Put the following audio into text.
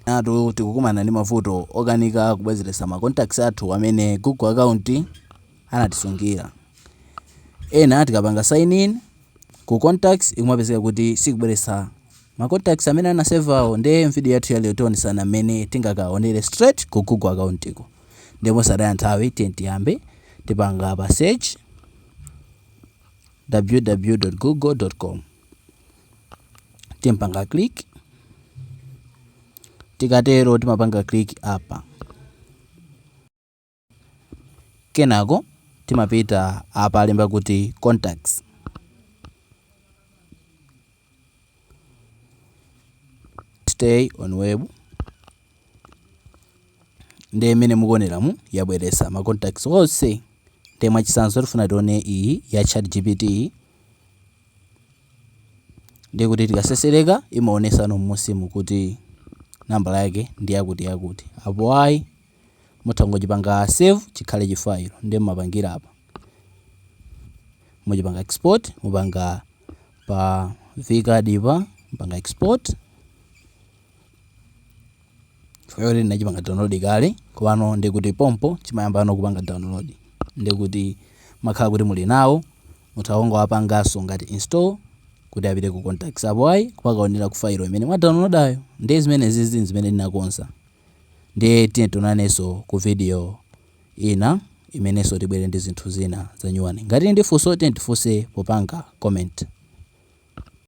Enatu tikukumana ndi mavuto okanika kubwezeretsa ma contacts athu amene Google account anatisungira. Ena tikapanga sign in ku contacts kumapezeka kuti sikubweretsa ma contacts amene ana save awo nde mvideo yathu ya lero tionesana mmene tingakaonere straight ku Google account ko. Nde mosataya nthawi tiyeni tiyambe. Tipanga pa search ww.google.com. timpanga click tikatero timapanga click apa kenako timapita apa alemba kuti contacts stay on web nde mmene mukuoneramu yabweresa ma contacts onse nde mwachisanzo tifuna tione iyi ya chat gpt Ndiye kuti tikasesereka imaonesa mmusimu kuti nambala yake ndi yakuti yakuti. Apo ayi mutha kungochipanga save chikhale chi file ndiye mumapangira apa. Muchipanga export mupanga pa vcard pa mupanga export. chifukwa choti ndinachipanga download kale komano ndekuti pompo chimayambano kupanga download ndekuti mumakhala kuti muli nawo mutha kungowapanganso ngati install kuti apite ku contacts apo ayi kumakaonera ku file imene mwa downloadayo ndiye zimenezi ndi zimene ndinakonza ndiye tiyeni tionanenso ku video ina imenenso tibwere ndi zinthu zina zanyuwani ngati muli ndi funso tiyeni tifunse popanga comment